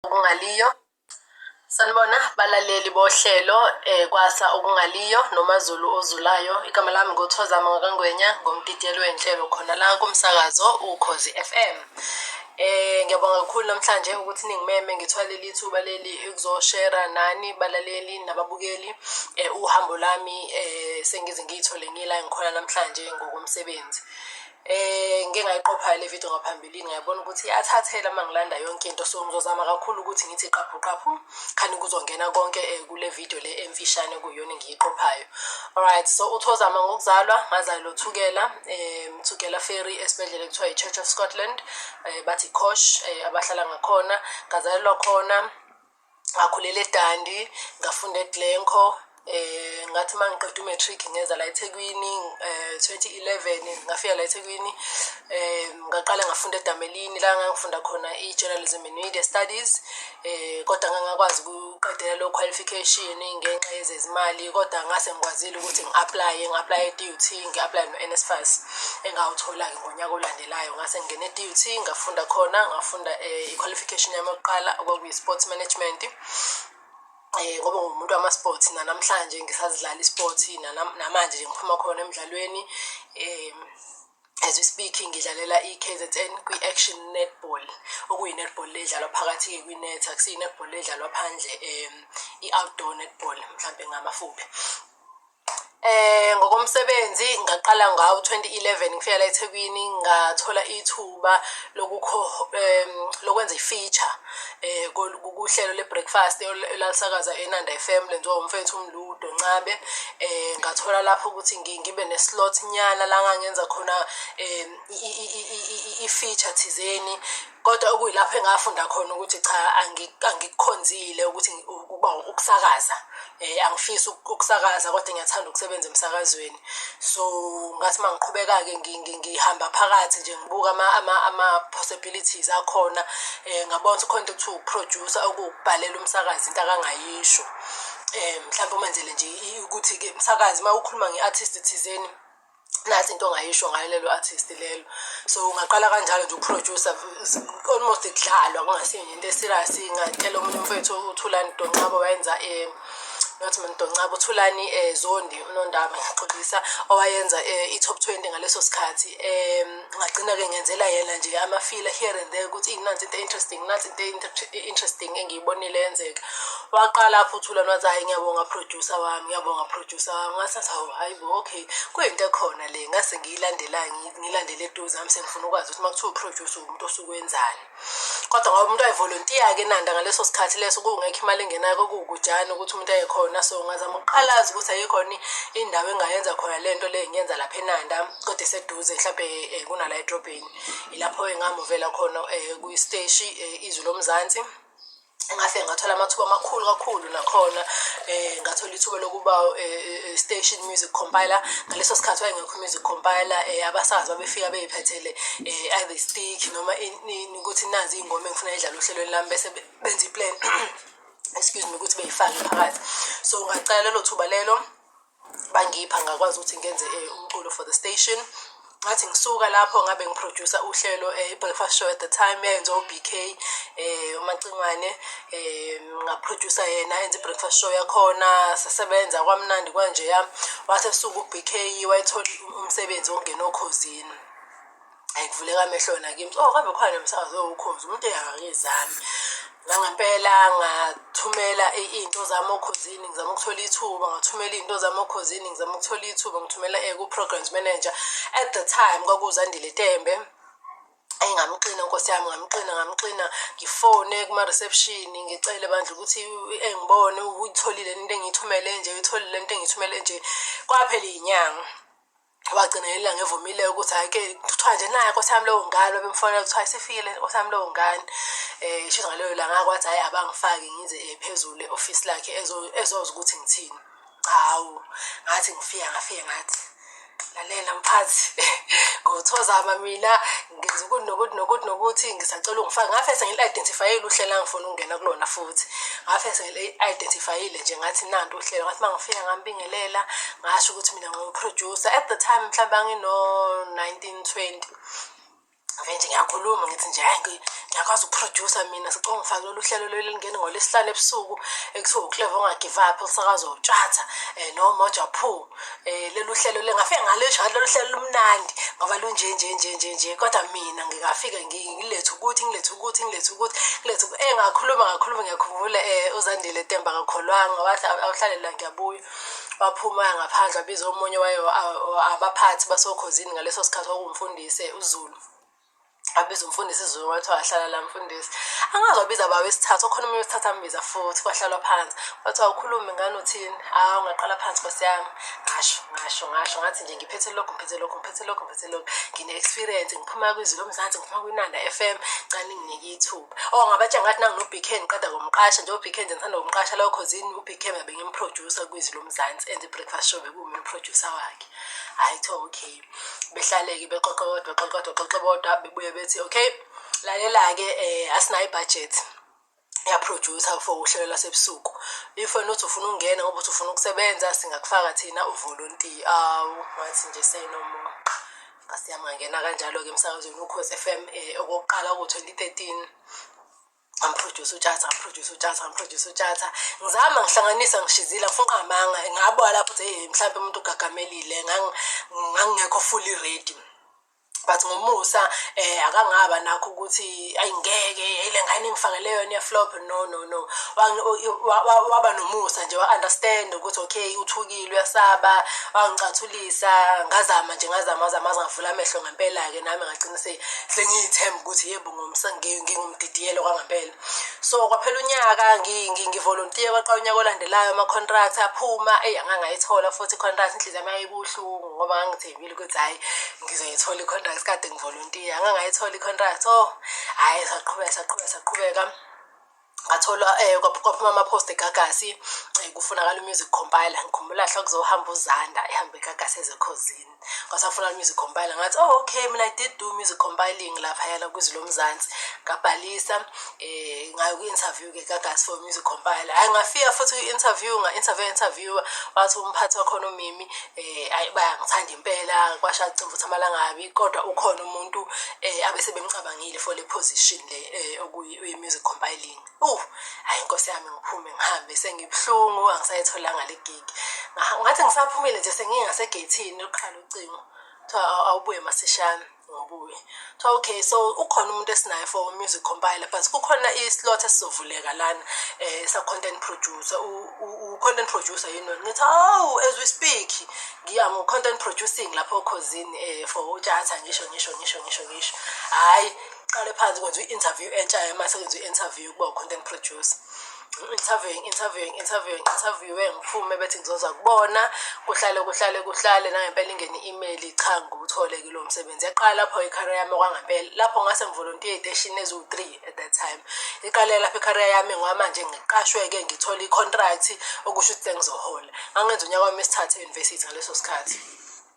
okungaliyo sanibona balaleli bohlelo eh kwasa okungaliyo nomazulu ozulayo igama lami ngothozama ngakangwenya ngomdidiyelo wenhlelo khona la kumsakazo ukhozi FM eh ngiyabonga kakhulu namhlanje ukuthi ningimeme ngithwale lithuba leli ukuzoshare nani balaleli nababukeli eh uhambo lami eh sengize ngiyithole ngila ngikhona namhlanje ngokomsebenzi Eh ngike ngayiqopha le video ngaphambilini ngiyabona ukuthi athathela uma ngilanda yonke into so ngizozama kakhulu ukuthi ngithi qaphu qaphu khani kuzongena konke eh, kule video le emfishane kuyona engiyiqophayo alright so uthozama ngokuzalwa ngazalwa uthukela eh mthukela ferry esibhedlela kuthiwa i-church of scotland eh bathi kosh eh, abahlala ngakhona ngazalelwa khona ngakhulela edandi ngafunda eglenco eh ngathi mangiqeda umatric ngeza la eThekwini eh 2011 ngafika la eThekwini eh ngaqala ngafunda eDamelini la ngangifunda khona iJournalism and Media Studies eh kodwa ngangakwazi ukuqedela lo qualification ngenxa yezezimali kodwa ngase ngikwazile ukuthi ngiapply ngiapply eDUT ngiapply noNSFAS engawuthola ke Nyaka olandelayo ngase ngingena e-DUT ngafunda khona ngafunda eh, i-qualification yami yokuqala okwakuyi-sports management eh ngoba ngumuntu wama-sports nanamhlanje ngisazidlala i-sport namanje nje ngiphuma khona emdlalweni um as we speak ngidlalela i-kzn kwi-action netball okuyi-netball le edlalwa phakathi-ke kwi-net akusiyi-netball le edlalwa phandle um i-outdoor netball mhlawumbe ngamafuphi Eh ngokomsebenzi ngaqala ngawo 2011 ngifika la eThekwini ngathola ithuba lokukho em, lokwenza i-feature eh kol- kuhlelo le-breakfast ol- elalisakaza eNanda FM lenziwa umfethu uMludo Ncabe eh ngathola lapho ukuthi ngi- ngibe ne-slot nyana la ngangenza khona em, i- i- i- i- i- i-feature thizeni kodwa okuyilapho engafunda khona ukuthi cha angikukhonzile ukuthi ukuba ukusakaza um angifisi ukusakaza kodwa ngiyathanda ukusebenza emsakazweni so ngathi uma ngiqhubeka-ke ngihamba phakathi nje ngibuka ama-possibilities akhona um ngabona ukuthi khona into kuthiwa ukuproducer okuwukubhalela umsakazi into akangayisho um mhlawumbe umenzele nje ukuthi-ke msakazi uma ukhuluma nge-artist thizeni nathi into ongayisho ngayo lelo artist lelo so ungaqala kanjalo nje ukuproducer almost kudlalwa kungasinye into eserious ingathela omunye umfethu uthulani doncabo wayenza um not mina doncaba uthulani um eh, zondi unondaba ngixolisa owayenza um i-top twenty ngaleso sikhathi um ngagcina-ke ngenzela yena nje amafila here and there ukuthi inansi into interesting nansi into interesting engiyibonile yenzeka waqala apho uthulani wathi hhayi ngiyabonga producer wami ngiyabonga producer wami ngasathi hawu hhayi bo okay kuyinto ekhona le ngase ngiyilandela ngilandele eduze ngami sengifuna ukwazi ukuthi uma kuthiwa uproduce umuntu osuke wenzani kodwa ngoba umuntu ayivolontiya-ke nanda ngaleso sikhathi leso kungekho imali engenayo kokuwukujani ukuthi umuntu ayekhona so ngazama ukuqalazi ukuthi ayikhona indawo engayenza khona le nto le ngiyenza lapha enanda kodwa eseduze mhlawumbe um kunala edrobheni ilapho engamuvela khona um kwisteshi um izwi lomzansi ngafike ngathola amathuba amakhulu kakhulu nakhona um ngathola ithuba lokuba eh, station music compiler ngaleso sikhathi wayengekho music compiler um abasazi babefika beyiphethele um either stick noma ukuthi nazi iy'ngoma engifuna idlala ohlelweni lami bese benza iplan excuse me ukuthi beyifake phakathi so ngacala lelo thuba lelo bangipha ngakwazi ukuthi ngenze eh, umculo for the station ngathi ngisuka lapho ngabe ngiproducer uhlelo eh, i-breakfast show at the time yayenziwa u-b k um eh, umacingwane um ngaproducer yena enza i-breakfast show yakhona sasebenza kwamnandi kwanjeya wase suku u-b k wayethole umsebenzi wokungena okhozini ayikuvuleka amehlo wena kimi oh kambe khona nomsakazo wokhozi umuntu engakizami nangempela ngathumela into zami okhozini ngizama ukuthola ithuba ngathumela into zami okhozini ngizama ukuthola ithuba ngithumela eh, ku-programs manager at the time kwakuzandile tembe engamxina nkosi yami ngamxina ngamxina ngifone kuma-reception ngicele bandla ukuthi engibone uyitholile into engiyithumele nje uyitholile into engiyithumele nje kwaphela iyinyanga wagcina ngelinye ilanga evumileyo ukuthi hhayi-ke kuthiwa nje naye nkosi yami lowo ngane babemfonela kuthiwa isifikile nkosi yami lowo ngane um isho ngaleyo langa kwathi hhayi abangifaki ngize um phezulu e-ofisi lakhe ezoza ukuthi ngithini hawu ngathi ngifika ngafike ngathi lalela mphathi ngothozama mina ngenza ukuthi nokuthi nokuthi nokuthi ngisacela ungifake ngafe sengili-identifyile uhlela ngifuna ukungena kulona futhi ngafe sengili-identifyile nje ngathi nanto uhlelo ngathi uma ngifika ngambingelela ngasho ukuthi mina ngiwuproducer at the time mhlawumbe angino-nineteen twenty ave nje ngiyakhuluma ngithi nje hayi ngiyakwazi ukuprodusa mina sicela ngifake lolu hlelo lolu elingene ngolwesihlanu ebusuku ekuthiwa ucleve ongagive up usakaza utshatha um eh, nomoja poo eh lolu hlelo lengafike ngalesho lolu hlelo lumnandi ngoba lunje nje nje nje nje kodwa mina ngingafike ngilethe ukuthi ngilethe ukuthi ngilethe ukuthi ngilethe eh ngakhuluma ngakhuluma ngiyakhumbula eh uzandile Temba kakholwanga wathi awuhlalela ngiyabuya waphuma ngaphandle wabiza omunye wayo abaphathi basokhozini ngaleso sikhathi okumfundise uZulu abiza umfundisi izulu wathi wahlala la mfundisi angazi wabiza bawo isithathu okhona omunye wesithathu ambiza futhi kwahlalwa phansi wathi awukhulumi ngani uthini hawu ungaqala phansi nkosi yami ngasho ngasho ngasho ngathi nje ngiphethe lokhu ngiphethe lokhu ngiphethe lokhu ngiphethe lokhu ngine-experience ngiphuma kwizulu omzansi ngiphuma kwinanda f m cani nginike ithuba o oh, ngabatsha ngathi nanginobk ngiqeda komqasha njengo bk nje ngithanda kumqasha lawo khozini ubk ngabe ngimproducer kwizulu omzansi and i-breakfast show bekuwumi umproducer wakhe hayi kuthiwa okay behlaleke bexoxe kodwa bexoxe kodwa bexoxe bodwa bebuye bethi okay lalela-ke um asinayo ibudget yaproducer for uhlelo lwasebusuku if wena uthi ufuna ukungena ngoba uthi ufuna ukusebenza singakufaka thina uvolontiya awu ngathi nje seyinomoya ngasiyamangena kanjalo-ke emsakazweni ukhosi f m um okokuqala ku-twenty thirteen ngamproduce utshatha ngamproduce utshatha ngamproduce utshatha ngizama ngihlanganisa ngishizile ngifuna ungamanga ngabo lapho ukuthi hey mhlawumbe umuntu ugagamelile ngangingekho fully ready but ngomusa eh akangaba nakho ukuthi ayingeke ile ngane ngifakele yona flop no no no waba nomusa nje wa understand ukuthi okay uthukile uyasaba wangicathulisa ngazama nje ngazama ngazama ngavula amehlo ngempela ke nami ngagcina sengiyithemba ukuthi yebo ngingumdidiyelo kwangampela so kwaphela unyaka ngivolontiye kwaqala unyaka olandelayo ama-contract aphuma eyi angangayithola futhi i-contract inhliziyo yami yayibuhlungu ngoba ngangithembile ukuthi hhayi ngizoyithola i-contract kade ngivolontiye angangayithola i-contract o oh, hhayi saqhubeka saqhubeka saqhubeka ngathola eh kwaphuma ama post eGagasi eh, kufunakala music compiler ngikhumbula hla kuzohamba uZanda ehambe eGagasi ezekhozini kwasafuna music compiler ngathi oh okay mina I did do music compiling lapha yala kwizwi lomzansi ngabhalisa eh ngayo ku interview ke Gagasi for music compiler hayi ngafika futhi ku interview nga interview interview wathi umphathi wakhona umimi eh ayi bayangithanda impela kwasha cimvutha amalangabi kodwa ukhona umuntu eh abese bemcabangile for le position le eh okuyi we-music compiling uh hayi inkosi yami ngiphume ngihambe sengibuhlungu angisayitholanga le gig ngathi ngisaphumile nje sengingasegeyithini lokuqala ucingo kuthiwa awubuye masishane ngobuye kuthiwa okay so ukhona umuntu esinaye for music compiler but kukhona i-slot esizovuleka lana um sa-content producer u-content producer yini wena ngithi hawu as we speak ngiya ngo-content producing lapho okhozini um for utshata ngisho ngisho ngisho ngisho ngisho hhayi uqale phansi kwenza i-interview entsha yamase kwenza i-interview ukuba u-content producer interviewing interviewing interviewing interviewe ngiphume bethi ngizoza kubona kuhlale kuhlale kuhlale nangempela ingene i-email cha ngiwuthole kulo msebenzi yaqala lapho ikhariya yami okwangempela lapho ngase ngivolontiye ey'teshini eziwu-three at that time iqale lapho ikhariya yami ngoba manje ngiqashwe-ke ngithole i-contract okusho ukuthi sengizohola ngangenza unyaka wami esithathe e-university ngaleso sikhathi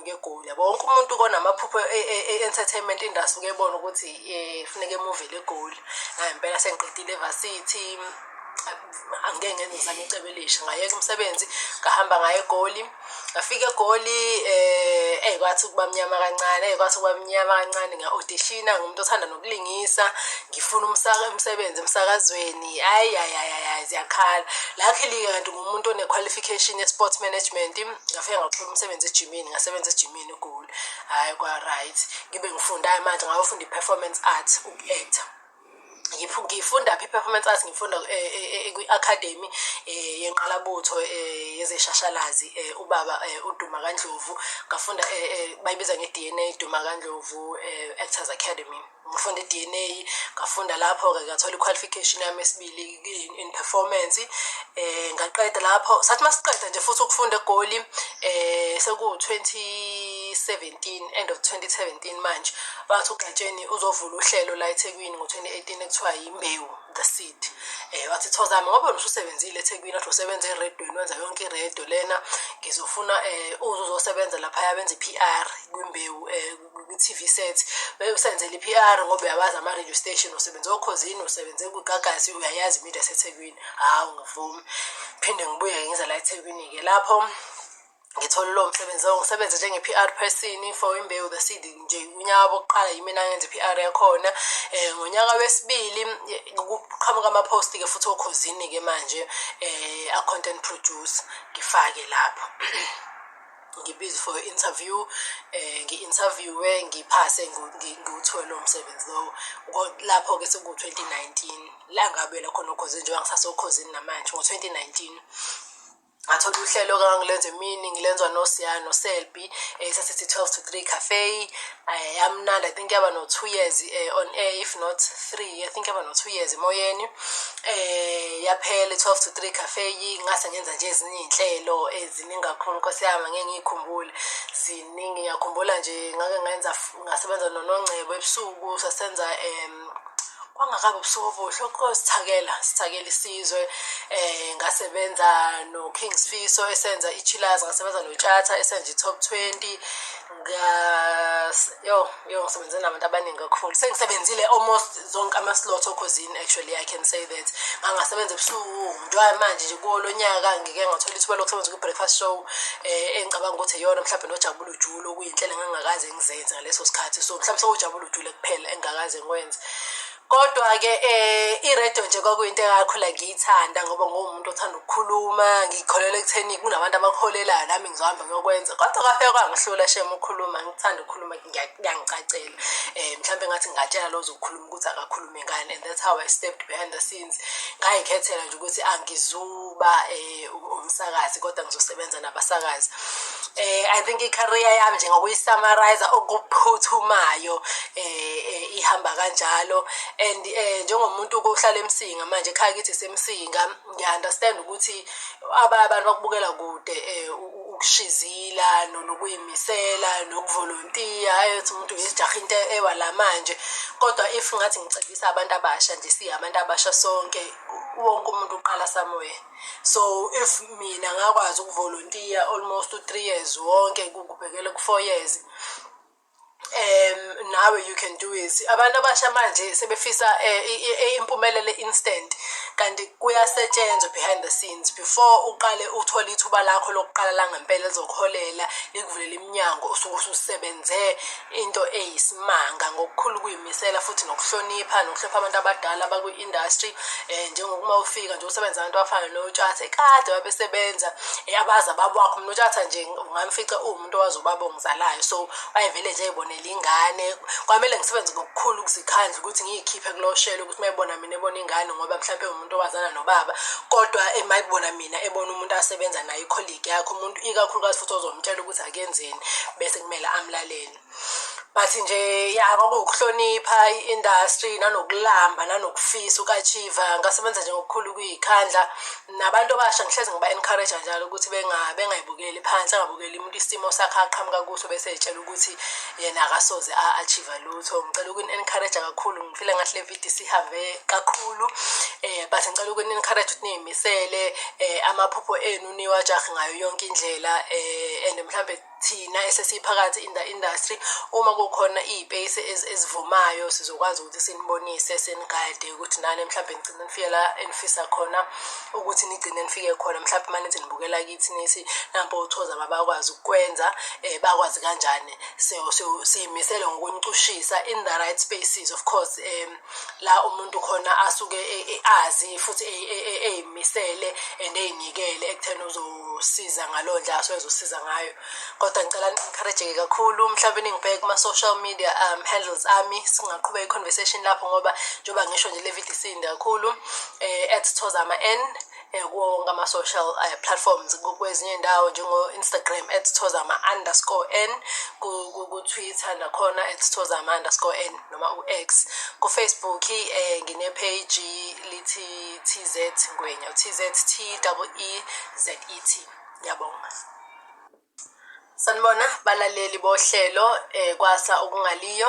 ngegoli yabo wonke umuntu konamaphupho e, e, e, entertainment industry ukebona ukuthi eh funeka emuvele egoli hayi impela sengiqedile evarsity angeke ngenze ngizame icebo elisha ngayeka umsebenzi ngahamba ngaye egoli ngafika egoli eh kwathi ukuba mnyama kancane kwathi ukuba mnyama kancane nga-auditiona ngumuntu othanda ukulingisa ngifuna umsaka umsebenzi emsakazweni hayi hayi hayi hayi ziyakhala luckily kanti ngumuntu one-qualification ye-sports management ngafike ngathola umsebenzi ejimini ngasebenza ejimini egoli hhayi kwa-right ngibe ngifundayo manje ngayofunda i-performance art uku-acta ngifunda phi performance arts ngifunda eh, eh, eh, kwi academy yenqalabutho yezeshashalazi ubaba uduma kandlovu ngafunda bayibiza nge-dna duma kandlovu ku-actors eh, academy ngifunda i-d n a ngafunda lapho-ke ngathola i-qualification yami esibili in performance um ngaqeda lapho sathi uma siqeda nje futhi ukufunda egoli um sekuwu-2017 end of 2017 manje bathi ugatsheni uzovula uhlelo la ethekwini ngo-2018 ekuthiwa yimbewu the seed eh wathi thozami ngoba usebenzile eThekwini wathi usebenza eredweni wenza yonke iredo lena ngizofuna eh uze uzosebenza lapha yabenza iPR kwimbewu eh kwi-TV set beyosenzela iPR ngoba uyawazi ama radio station usebenza okhozini usebenze kugagasi uyayazi imedia seThekwini hawu ngivumi phinde ngibuye ngize la eThekwini ke lapho ngithole lowo msebenzi lowo ngisebenze njenge-PR person for imbewu the seed nje unyaka wokuqala yimina ngenza i-PR yakhona eh ngonyaka wesibili kuqhamuka ama-post ke futhi okhozini ke manje eh a content produce ngifake lapho ngibizwe for interview eh ngi-interviewe ngiphase ngiwuthole lo msebenzi lowo lapho ke seku-2019 la ngabela khona okhozini njengoba ngisasokhozini namanje ngo-2019 ngathola uhlelo kangangilenza emini ngilenza nosiya noselbi um sasithi twelve to three cafe um yamnandi i think yaba no-two years um on air if not three i think yaba no-two years emoyeni um yaphela i-twelve to three cafe ngase ngenza nje ezinye iy'nhlelo eziningi kakhulu nkosi yami ngeke ngiyikhumbule ziningi ngiyakhumbula nje ngake ngenza ngasebenza nonongcebo ebusuku sasenza um kwangakabi ubusuku obuhle okusithakela sithakela isizwe eh ngasebenza no King Sifiso esenza iChillers ngasebenza no Tshatha esenza iTop 20 ngas yo yo ngisebenze nabantu abaningi kakhulu sengisebenzile almost zonke ama slots okhozini actually i can say that ngangasebenza ebusuku njengoba manje nje kolonyaka ngike ngathola ithuba lokusebenza ku breakfast show eh engicabanga ukuthi yona mhlawumbe nojabula ujulu iy'nhlelo engangakaze ngizenze ngaleso sikhathi so mhlawumbe sewujabula ujule kuphela engingakaze ngikwenze kodwa-ke um eh, iredio nje kwakuyinto engakhula ngiyithanda ngoba nguwumuntu othanda ukukhuluma ngikholelwa ekutheni kunabantu abakholelayo nami ngizohamba ngiyokwenza kodwa kwafeka kwangihlula shem ukhuluma ngithanda ukukhuluma kuyangicacela um eh, mhlawumbe ngathi ngingatshela lo zokukhuluma ukuthi akakhulume nami ngane and that's how i stepped behind the scenes ngayikhethela nje ukuthi angizuba um umsakazi kodwa ngizosebenza nabasakazi um i think i-career yami nje ngokuyisummarize okuphuthumayo um ihamba kanjalo and um njengomuntu kohlala emsinga manje ekhaya kithi semsinga ngiya-understand ukuthi abanye abantu bakubukela kude um ukushizila nonokuyima misela nokuvolontiya ayothi umuntu ngizijaha into ewa la manje kodwa if ngathi ngicebisa abantu abasha nje siye abantu abasha sonke wonke umuntu uqala somewhere so if mina ngakwazi ukuvolontiya almost u-three years wonke kubhekele ku-four years um nawe you can do it abantu abasha manje sebefisa eh, eh, impumelelo instant kanti kuyasetshenzwa behind the scenes before uqale uthole ithuba lakho lokuqala langempela lizokuholela likuvulele iminyango usuke ususebenze into eyisimanga ngokukhulu kuyimisela futhi nokuhlonipha nokuhlonipha abantu abadala abakwi-industry um njengokuma ufika nje usebenza abantu abafana notshathe kade babesebenza abazi ababwakho mna utshatha nje ungamfica uma umuntu owazi ubaba ongizalayo so wayevele nje ebonela ingane kwamele ngisebenze ngokukhulu ukuzikhandla ukuthi ngiyikhiphe kuloshelo ukuthi mayibona mina ebona ingane ngoba mhlawumbe umuntu owazana nobaba kodwa emayibona mina ebona umuntu asebenza naye ikholigi yakhe umuntu ikakhulukazi futhi ozomtshela ukuthi akenzeni bese kumele amlalele but nje ya kwakuwukuhlonipha i-industry nanokulamba nanokufisa ukachiva ngasebenza nje ngokukhulu ukuyikhandla nabantu abasha ngihlezi ngiba encourage njalo ukuthi benga bengayibukeli phansi angabukeli umuntu isimo sakhe aqhamuka kuso bese etshela ukuthi yena akasoze a achieve lutho ngicela ukuni encourage kakhulu ngifile ngathi le video sihambe kakhulu eh but ngicela ukuni encourage ukuthi niyimisele eh amaphupho enu niwajahe ngayo yonke indlela eh and mhlambe thina esesiphakathi in the industry uma kukhona iy'peyisi ezivumayo sizokwazi ukuthi sinibonise sinigade ukuthi nani mhlawumbe nigcine nifike la enifisa khona ukuthi nigcine nifike khona mhlawumbe uma nithi nibukela kithi nithi nampo uthoza babakwazi ukukwenza um bakwazi kanjani siyimisele ngokunicushisa in the right spaces of course um la umuntu khona asuke e- e- azi futhi e- e- e- eyimisele and eyinikele ekutheni uzosiza ngaleyo ndlela asuke ezosiza ngayo kodwa ngicela ni-encourage-ke kakhulu mhlawumbe ningibheke kuma-social media um, handles ami singaqhuba i-conversation lapho ngoba njengoba ngisho nje le video isinde kakhulu um at thozama n eh, kuwo wonke ama-social uh, platforms kwezinye iy'ndawo njengo-instagram at sithozama underscore n kutwitter nakhona at sithozama underscore n noma u-x kufacebook um nginepheji lithi t z ngwenya t z t double e z e t ngiyabonga sanibona balaleli bohlelo um kwasa okungaliyo